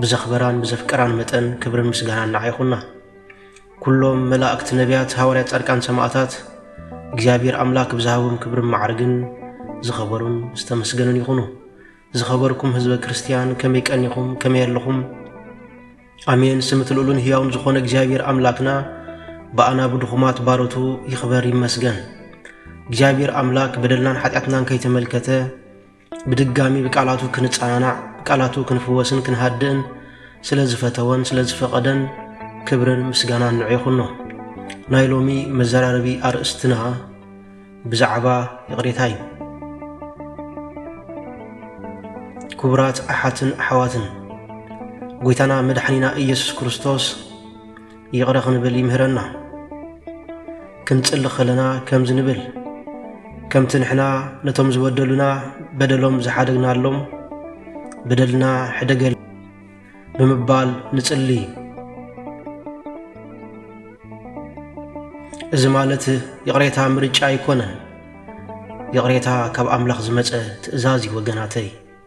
ብዘኽበራን ብዘፍቀራን መጠን ክብርን ምስጋናን ንዓ ይኹና። ኩሎም መላእክት፣ ነቢያት፣ ሃዋርያት፣ ጻድቃን፣ ሰማእታት እግዚኣብሔር ኣምላክ ብዝሃቦም ክብርን ማዕርግን ዝኸበሩን ዝተመስገኑን ይኹኑ። ዝኸበርኩም ህዝበ ክርስቲያን ከመይ ቀኒኹም ከመይ ኣለኹም? ኣሜን። ስምት ልኡሉን ህያውን ዝኾነ እግዚኣብሔር ኣምላክና ብኣና ብድኹማት ባሮቱ ይኽበር ይመስገን። እግዚኣብሔር ኣምላክ በደልናን ሓጢኣትናን ከይተመልከተ ብድጋሚ ብቃላቱ ክንጸናናዕ ብቃላቱ ክንፍወስን ክንሃድእን ስለ ዝፈተወን ስለ ዝፈቐደን ክብርን ምስጋናን ንዑ ይኹኖ። ናይ ሎሚ መዘራረቢ ኣርእስትና ብዛዕባ ይቕሬታ እዩ። ክቡራት ኣሓትን ኣሕዋትን ጎይታና መድሓኒና ኢየሱስ ክርስቶስ ይቕረ ክንብል ይምህረና። ክንጽሊ ከለና ከምዚ ንብል፣ ከምቲ ንሕና ነቶም ዝበደሉና በደሎም ዝሓደግናሎም በደልና ሕደገል ብምባል ንጽሊ። እዚ ማለት ይቕሬታ ምርጫ ኣይኮነን፣ ይቕሬታ ካብ ኣምላኽ ዝመጸ ትእዛዝ እዩ ወገናተይ።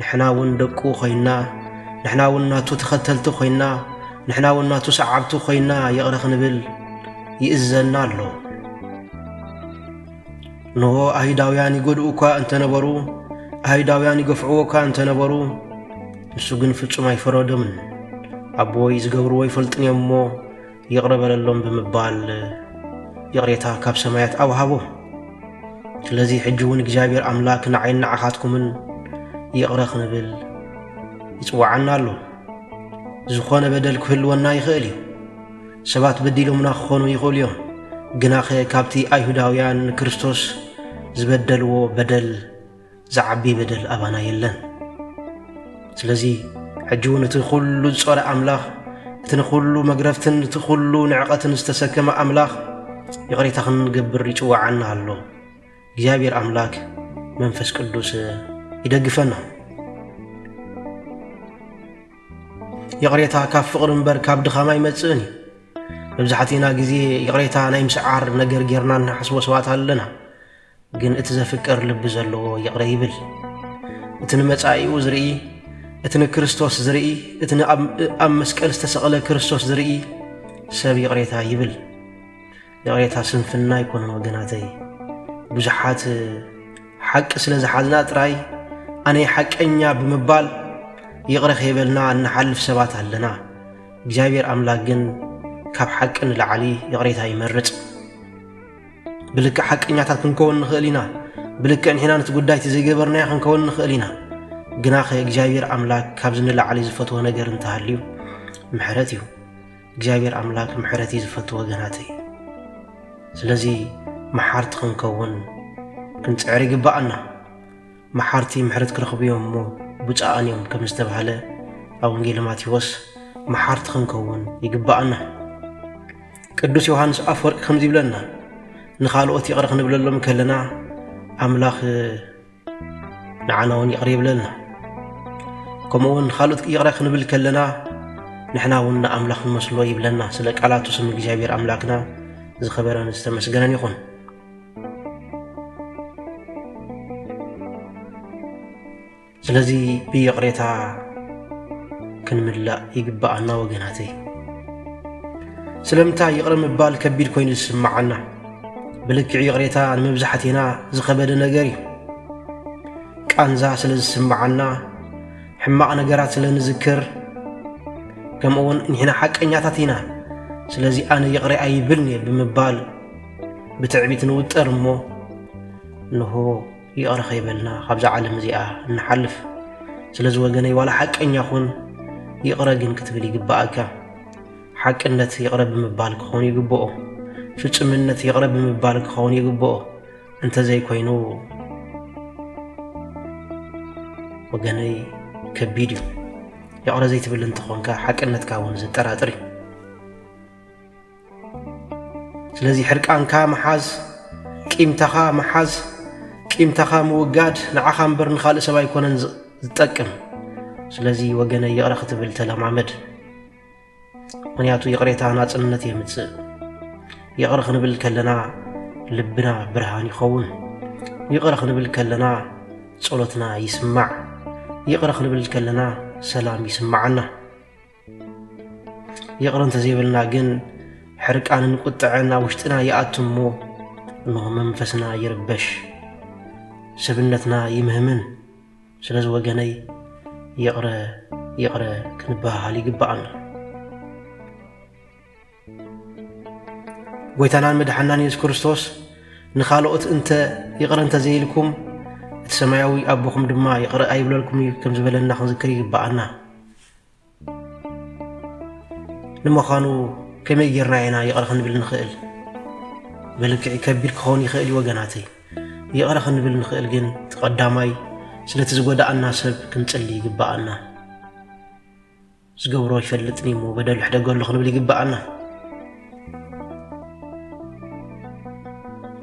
ንሕና እውን ደቁ ኮይንና፣ ንሕና እውን ናቱ ተኸተልቲ ኮይንና፣ ንሕና እውን ናቱ ሰዓብቲ ኮይንና ይቕረ ክንብል ይእዘና ኣሎ። እንሆ ኣይሁዳውያን ይጎድኡ እኳ እንተነበሩ፣ ኣይሁዳውያን ይገፍዕዎ እኳ እንተነበሩ፣ ንሱ ግን ፍጹም ኣይፈረዶምን። ኣቦይ ዝገብርዎ ይፈልጡን እዮም እሞ ይቕረ በለሎም ብምባል ይቕሬታ ካብ ሰማያት ኣውሃቦም። ስለዚ ሕጂ እውን እግዚኣብሔር ኣምላክ ንዓይን ንዓኻትኩምን ይቕረ ክንብል ይጽዋዓና ኣሎ። ዝኾነ በደል ክህልወና ይኽእል እዩ። ሰባት በዲሎምና ክኾኑ ይኽእሉ እዮም። ግናኸ ካብቲ ኣይሁዳውያን ንክርስቶስ ዝበደልዎ በደል ዝዓቢ በደል ኣባና የለን። ስለዚ ሕጂ እውን እቲ ዅሉ ዝጾረ ኣምላኽ፣ እቲ ንዅሉ መግረፍትን እቲ ዅሉ ንዕቐትን ዝተሰከመ ኣምላኽ ይቕሬታ ክንገብር ይጽውዓና ኣሎ። እግዚኣብሔር ኣምላክ መንፈስ ቅዱስ ይደግፈና። ይቕሬታ ካብ ፍቕሪ እምበር ካብ ድኻም ኣይመጽእን እዩ። መብዛሕትእና ግዜ ይቕሬታ ናይ ምስዓር ነገር ጌርና እንሓስቦ ሰባት ኣለና። ግን እቲ ዘፍቅር ልቢ ዘለዎ ይቕረ ይብል። እቲ ንመጻኢኡ ዝርኢ፣ እቲ ንክርስቶስ ዝርኢ፣ እቲ ኣብ መስቀል ዝተሰቕለ ክርስቶስ ዝርኢ ሰብ ይቕሬታ ይብል። ይቕሬታ ስንፍና ኣይኮነን ወገናተይ። ብዙሓት ሓቂ ስለ ዝሓዝና ጥራይ ኣነ ሓቀኛ ብምባል ይቕረ ከይበልና እንሓልፍ ሰባት ኣለና። እግዚኣብሔር ኣምላክ ግን ካብ ሓቂ ንላዕሊ ይቕሬታ ይመርጽ። ብልክዕ ሓቀኛታት ክንከውን ንኽእል ኢና። ብልክዕ ንሕና ነቲ ጉዳይቲ ዘይገበርናዮ ክንከውን ንኽእል ኢና። ግናኸ እግዚኣብሔር ኣምላክ ካብዚ ንላዕሊ ዝፈትዎ ነገር እንተሃልዩ ምሕረት እዩ። እግዚኣብሔር ኣምላክ ምሕረት እዩ ዝፈቱ ወገናተይ። ስለዚ መሓርቲ ክንከውን ክንፅዕር ይግባኣና። መሓርቲ ምሕረት ክረኽቡ እዮም እሞ ብፁዓን እዮም ከም ዝተባህለ ኣብ ወንጌል ማቴዎስ መሓርቲ ክንከውን ይግባኣና። ቅዱስ ዮሃንስ ኣፈወርቂ ከምዚ ይብለና ንኻልኦት ይቕረ ክንብለሎም ከለና ኣምላኽ ንዓና እውን ይቕረ ይብለልና። ከምኡ እውን ንኻልኦት ይቕረ ክንብል ከለና ንሕና እውን ንኣምላኽ ንመስሎ ይብለና። ስለ ቃላቱ ስም እግዚኣብሔር ኣምላክና ዝኸበረን ዝተመስገነን ይኹን። ስለዚ ብይቕሬታ ክንምላእ ይግብኣና ወገናተይ። ስለምንታይ ይቕረ ምባል ከቢድ ኮይኑ ዝስምዓና? ብልክዕ ይቕሬታ ንመብዛሕቴና ዝኸበደ ነገር እዩ። ቃንዛ ስለ ዝስምዓና፣ ሕማቕ ነገራት ስለ ንዝክር፣ ከምኡውን ንሕና ሓቀኛታት ኢና፣ ስለዚ ኣነ ይቕረ ኣይብልን እየ ብምባል ብትዕቢት ንውጠር እሞ እንሆ ይቕረ ከይበልና ካብዛ ዓለም እዚኣ እንሓልፍ። ስለዚ ወገነይ ዋላ ሓቀኛ ኹን ይቕረ ግን ክትብል ይግባኣካ። ሓቅነት ይቕረ ብምባል ክኸውን ይግብኦ። ፍጹምነት ይቕረ ብምባል ክኸውን ይግብኦ። እንተዘይኮይኑ ወገነይ ከቢድ እዩ። ይቕረ ዘይትብል እንትኾንካ ሓቅነትካ እውን ዘጠራጥር እዩ። ስለዚ ሕርቃንካ ምሓዝ፣ ቂምታኻ ምሓዝ፣ ቂምታኻ ምውጋድ ንዓኻ እምበር ንኻልእ ሰብ ኣይኮነን ዝጠቅም። ስለዚ ወገነይ ይቕረ ክትብል ተለማመድ። ምክንያቱ ይቕሬታ ናጽነት የምጽእ። ይቕረ ክንብል ከለና ልብና ብርሃን ይኸውን። ይቕረ ክንብል ከለና ጸሎትና ይስማዕ። ይቕረ ክንብል ከለና ሰላም ይስማዓና። ይቕረ እንተዘይበልና ግን ሕርቃንን ቁጥዐን ኣብ ውሽጥና ይኣቱ እሞ እንሆ መንፈስና ይርበሽ፣ ሰብነትና ይምህምን። ስለዚ ወገነይ ይቕረ ይቕረ ክንበሃሃል ይግባኣና። ጎይታናን መድሓናን የሱስ ክርስቶስ ንኻልኦት እንተ ይቕረ እንተ ዘይልኩም እቲ ሰማያዊ ኣቦኹም ድማ ይቕረ ኣይብለልኩም እዩ ከም ዝበለና ክንዝክር ይግባኣና። ንምዃኑ ከመይ ጌርና ኢና ይቕረ ክንብል ንኽእል? ብልክዕ ከቢድ ክኸውን ይኽእል እዩ ወገናተይ። ይቕረ ክንብል ንኽእል ግን እቲ ቀዳማይ ስለቲ ዝጎዳኣና ሰብ ክንጽሊ ይግባኣና። ዝገብሮ ይፈልጥኒ እሞ በደሉ ሕደገሉ ክንብል ይግባኣና።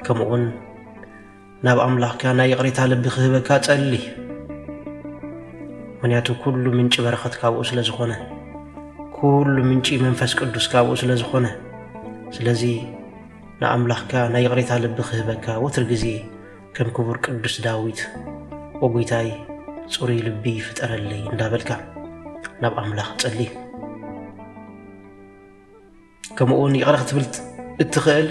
ከምኡውን ናብ ኣምላኽካ ናይ ይቕሬታ ልቢ ክህበካ ጸሊ ምክንያቱ ኩሉ ምንጪ በረኸት ካብኡ ስለ ዝኾነ ኩሉ ምንጪ መንፈስ ቅዱስ ካብኡ ስለ ዝኾነ ስለዚ ንኣምላኽካ ናይ ይቕሬታ ልቢ ክህበካ ወትር ግዜ ከም ክቡር ቅዱስ ዳዊት ኦ ጐይታይ ጽሩይ ልቢ ፍጠረለይ እንዳበልካ ናብ ኣምላኽ ጸሊ ከምኡውን ይቕረ ክትብል እትኽእል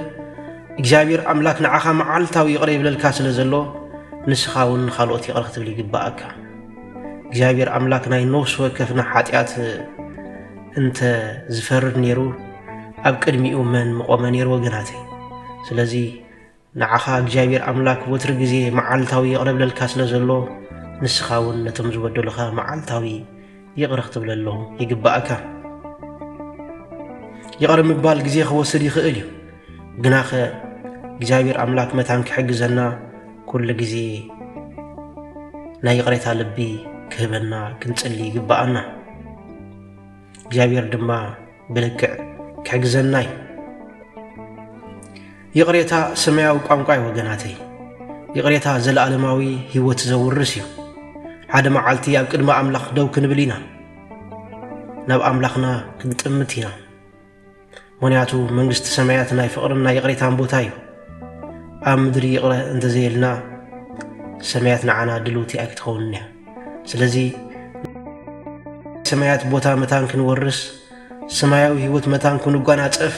እግዚኣብሔር ኣምላክ ንዓኻ መዓልታዊ ይቕረ ይብለልካ ስለ ዘሎ ንስኻ እውን ንኻልኦት ይቕረ ክትብል ይግባኣካ እግዚኣብሔር ኣምላክ ናይ ነፍሲ ወከፍና ሓጢኣት እንተ ዝፈርድ ነይሩ ኣብ ቅድሚኡ መን ምቆመ ነይሩ ወገናተይ ስለዚ ንዓኻ እግዚኣብሔር ኣምላክ ወትሪ ግዜ መዓልታዊ የቕርብለልካ ስለ ዘሎ ንስኻ እውን ነቶም ዝበደሉኻ መዓልታዊ ይቕረ ክትብለሎም ይግባእካ። ይቕረ ምባል ግዜ ክወስድ ይኽእል እዩ። ግናኸ እግዚኣብሔር ኣምላክ መታን ክሕግዘና ኩሉ ግዜ ናይ ይቕሬታ ልቢ ክህበና ክንጽሊ ይግባኣና። እግዚኣብሔር ድማ ብልክዕ ክሕግዘና እዩ። ይቕሬታ ሰማያዊ ቋንቋ እዩ ወገናተይ። ይቕሬታ ዘለኣለማዊ ህይወት ዘውርስ እዩ። ሓደ መዓልቲ ኣብ ቅድሚ ኣምላኽ ደው ክንብል ኢና። ናብ ኣምላኽና ክንጥምት ኢና። ምክንያቱ መንግስቲ ሰማያት ናይ ፍቕርን ናይ ይቕሬታን ቦታ እዩ ኣብ ምድሪ ይቕረ እንተዘየልና ሰማያት ንዓና ድልውቲ ኣይክትኸውንን እያ ስለዚ ናይ ሰማያት ቦታ መታን ክንወርስ ሰማያዊ ህይወት መታን ክንጓናጸፍ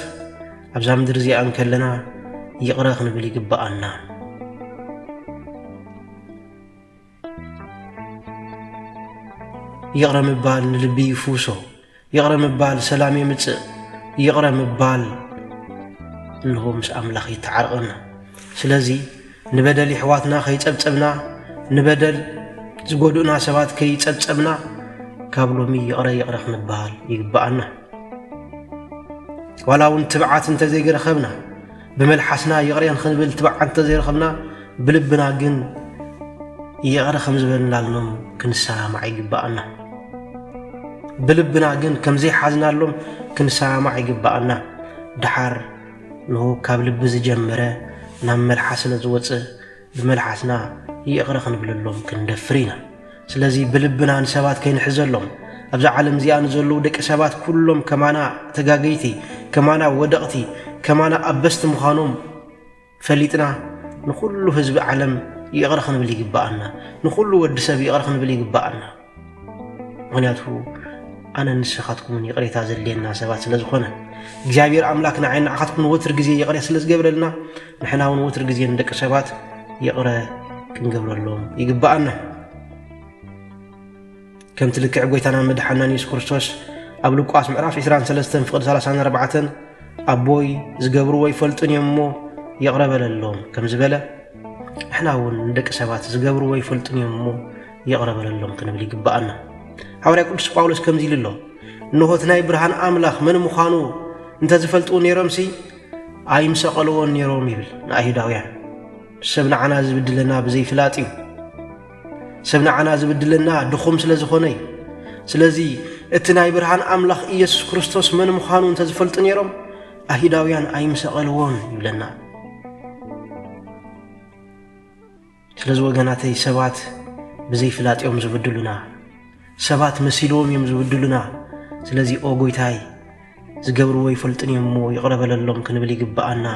ኣብዛ ምድሪ እዚኣ እንከለና ይቕረ ክንብል ይግብኣና። ይቕረ ምባል ንልቢ ይፍውሶ፣ ይቕረ ምባል ሰላም የምጽእ። ይቕረ ምባል እንሆ ምስ ኣምላኽ ይተዓርቐና። ስለዚ ንበደል ይሕዋትና ከይጸብጸብና፣ ንበደል ዝጎድኡና ሰባት ከይጸብጸብና ካብ ሎሚ ይቕረ ይቕረ ክንበሃል ይግብኣና። ዋላ እውን ትብዓት እንተዘይገረኸብና ብመልሓስና ይቕሬ ንኽንብል ትባዕ እንተዘይረኸብና ብልብና ግን ይቕረ ከም ዝበልናሎም ክንሰማማዕ ይግባኣና። ብልብና ግን ከም ዘይሓዝናሎም ክንሰማማዕ ይግባኣና። ደሓር ንሁ ካብ ልቢ ዝጀመረ ናብ መልሓስ ስለ ዝወፅእ ብመልሓስና ይቕረ ክንብለሎም ክንደፍር ኢና። ስለዚ ብልብና ንሰባት ከይንሕዘሎም፣ ኣብዛ ዓለም እዚኣ ንዘለዉ ደቂ ሰባት ኩሎም ከማና ተጋገይቲ፣ ከማና ወደቕቲ፣ ከማና ኣበስቲ ምዃኖም ፈሊጥና ንኹሉ ህዝቢ ዓለም ይቕረ ክንብል ይግብኣና። ንኹሉ ወዲ ሰብ ይቕረ ክንብል ይግብኣና። ምክንያቱ ኣነን ንስኻትኩምን ይቕሬታ ዘድልየና ሰባት ስለ ዝኾነ እግዚኣብሔር ኣምላክ ንዓይ ንዓኻትኩም ንወትር ግዜ ይቕሬ ስለ ዝገብረልና ንሕና እውን ወትር ግዜ ንደቂ ሰባት ይቕረ ክንገብረሎም ይግብኣና ከምቲ ልክዕ ጎይታናን መድሓናን የሱስ ክርስቶስ ኣብ ልቋስ ምዕራፍ 23 ፍቕዲ 34 ኣቦይ ዝገብርዎ ይፈልጡን እዮም እሞ ይቕረ በለሎም ከም ዝበለ ንሕና እውን ንደቂ ሰባት ዝገብርዎ ይፈልጡን እዮም እሞ ይቕረ በለሎም ክንብል ይግብኣና። ሓዋርያ ቅዱስ ጳውሎስ ከምዚ ኢሉ ኣሎ፣ እንሆ እቲ ናይ ብርሃን ኣምላኽ መን ምዃኑ እንተ ዝፈልጡ ነይሮምሲ ኣይምሰቐልዎን ነይሮም ይብል ንኣይሁዳውያን። ሰብ ንዓና ዝብድለና ብዘይፍላጥ እዩ። ሰብ ንዓና ዝብድለና ድኹም ስለ ዝኾነ እዩ። ስለዚ እቲ ናይ ብርሃን ኣምላኽ ኢየሱስ ክርስቶስ መን ምዃኑ እንተ ዝፈልጡ ነይሮም ኣይሁዳውያን ኣይምሰቐልዎን ይብለና። ስለዚ ወገናተይ ሰባት ብዘይ ፍላጥ እዮም ዝብድሉና ሰባት መሲልዎም እዮም ዝብድሉና ስለዚ ኦ ጎይታይ ዝገብርዎ ይፈልጡን እዮም እሞ ይቕረ በለሎም ክንብል ይግብኣና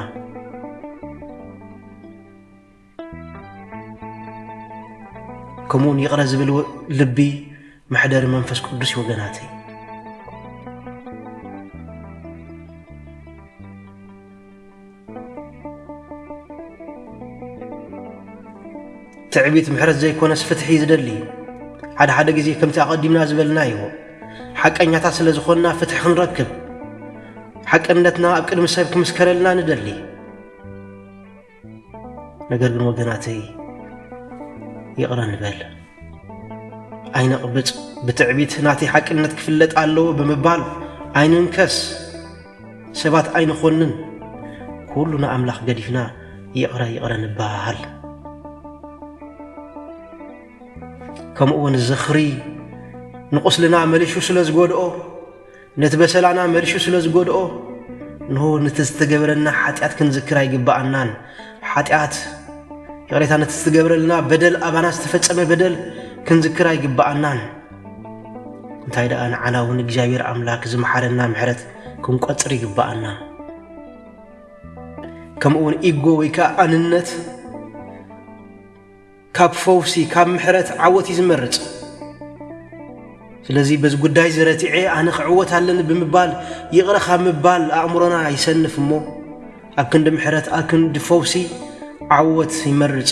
ከምኡውን ይቕረ ዝብል ልቢ መሕደሪ መንፈስ ቅዱስ እዩ ወገናተይ ትዕቢት ምሕረት ዘይኮነስ ፍትሒ እዩ ዝደሊ እዩ ሓደ ሓደ ግዜ ከምቲ ኣቐዲምና ዝበልና እዩ ሓቀኛታት ስለ ዝኾንና ፍትሒ ክንረክብ ሓቅነትና ኣብ ቅድሚ ሰብ ክምስከረልና ንደሊ ነገር ግን ወገናተይ ይቕረ ንበል ኣይነቕብፅ ብትዕቢት ናተይ ሓቅነት ክፍለጥ ኣለዎ ብምባል ኣይንንከስ ሰባት ኣይንኾንን ኩሉ ንኣምላኽ ገዲፍና ይቕረ ይቕረ ንበሃሃል። ከምኡውን ዝኽሪ ንቑስልና መሊሹ ስለ ዝጎድኦ ነቲ በሰላና መሊሹ ስለ ዝጎድኦ እንሆ ነቲ ዝተገብረና ሓጢኣት ክንዝክር ኣይግብኣናን። ሓጢኣት ይቕሬታ ነቲ ዝተገብረልና በደል ኣባና ዝተፈጸመ በደል ክንዝክር ኣይግብኣናን። እንታይ ደኣ ንዓና እውን እግዚኣብሔር ኣምላክ ዝመሓረና ምሕረት ክንቆጽር ይግባኣና ከምኡ እውን ኢጎ ወይ ከዓ ኣንነት ካብ ፈውሲ ካብ ምሕረት ዓወት እዩ ዝመርፅ ስለዚ በዚ ጉዳይ እዚ ረቲዐ ኣነ ክዕወት ኣለኒ ብምባል ይቕረ ካብ ምባል ኣእምሮና ይሰንፍ እሞ ኣብ ክንዲ ምሕረት ኣብ ክንዲ ፈውሲ ዓወት ይመርፅ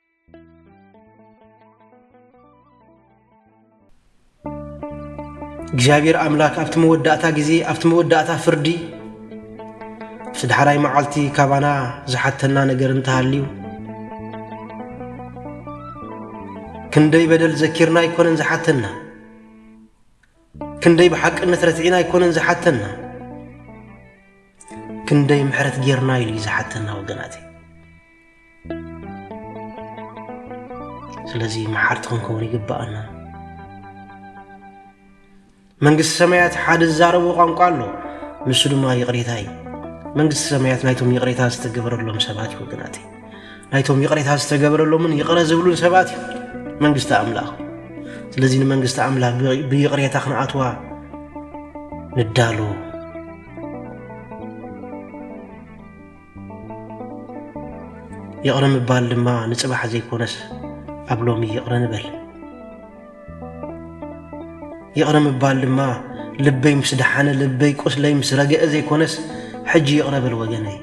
እግዚኣብሔር ኣምላክ ኣብቲ መወዳእታ ግዜ ኣብቲ መወዳእታ ፍርዲ እቲ ዳሕራይ መዓልቲ ካባና ዝሓተና ነገር እንተሃልዩ ክንደይ በደል ዘኪርና ኣይኮነን ዝሓተና ክንደይ ብሓቅነት ረቲዕና ኣይኮነን ዝሓተና ክንደይ ምሕረት ጌርና ኢሉ እዩ ዝሓተና ወገናተይ ስለዚ መሓርቲ ክንከውን ይግብኣና መንግስቲ ሰማያት ሓደ ዝዛረቦ ቋንቋ ኣሎ ንሱ ድማ ይቕሬታ እዩ መንግስቲ ሰማያት ናይቶም ይቕሬታ ዝተገበረሎም ሰባት እዩ ወገናተይ ናይቶም ይቕሬታ ዝተገበረሎምን ይቕረ ዝብሉን ሰባት እዩ መንግስቲ ኣምላኽ ስለዚ ንመንግስቲ ኣምላኽ ብይቕሬታ ክንኣትዋ ንዳሎ ይቕረ ምባል ድማ ንፅባሕ ዘይኮነስ ኣብ ሎሚ ይቕረ ንበል ይቕረ ምባል ድማ ልበይ ምስ ደሓነ ልበይ ቁስለይ ምስ ረገአ ዘይኮነስ ሕጂ ይቕረ በል ወገነይ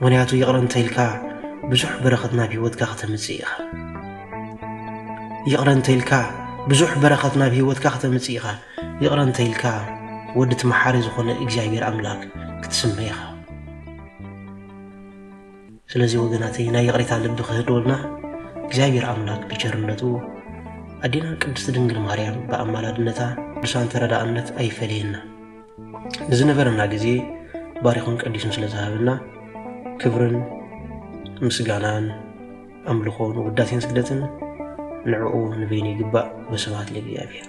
ምክንያቱ ይቕረ እንተኢልካ ብዙሕ በረኸት ናብ ህይወትካ ከተምጽእ ኢኻ። ይቕረ እንተኢልካ ብዙሕ በረኸት ናብ ህይወትካ ከተምጽእ ኢኻ። ይቕረ እንተኢልካ ወዲ እቲ መሓሪ ዝኾነ እግዚኣብሔር ኣምላክ ክትስመ ኢኻ። ስለዚ ወገናተይ ናይ ይቕሬታ ልቢ ክህልወልና እግዚኣብሔር ኣምላክ ብቸርነቱ ኣዴና ቅድስት ድንግል ማርያም ብኣማላድነታ ብሳን ተረዳእነት ኣይፈለየና ንዝነበረና ግዜ ባሪኹን ቀዲሱን ስለ ዝሃበና ክብርን ምስጋናን ኣምልኾን ውዳሴን ስግደትን ንዕኡ ንበይኑ ይግባእ ወስብሐት ለእግዚኣብሔር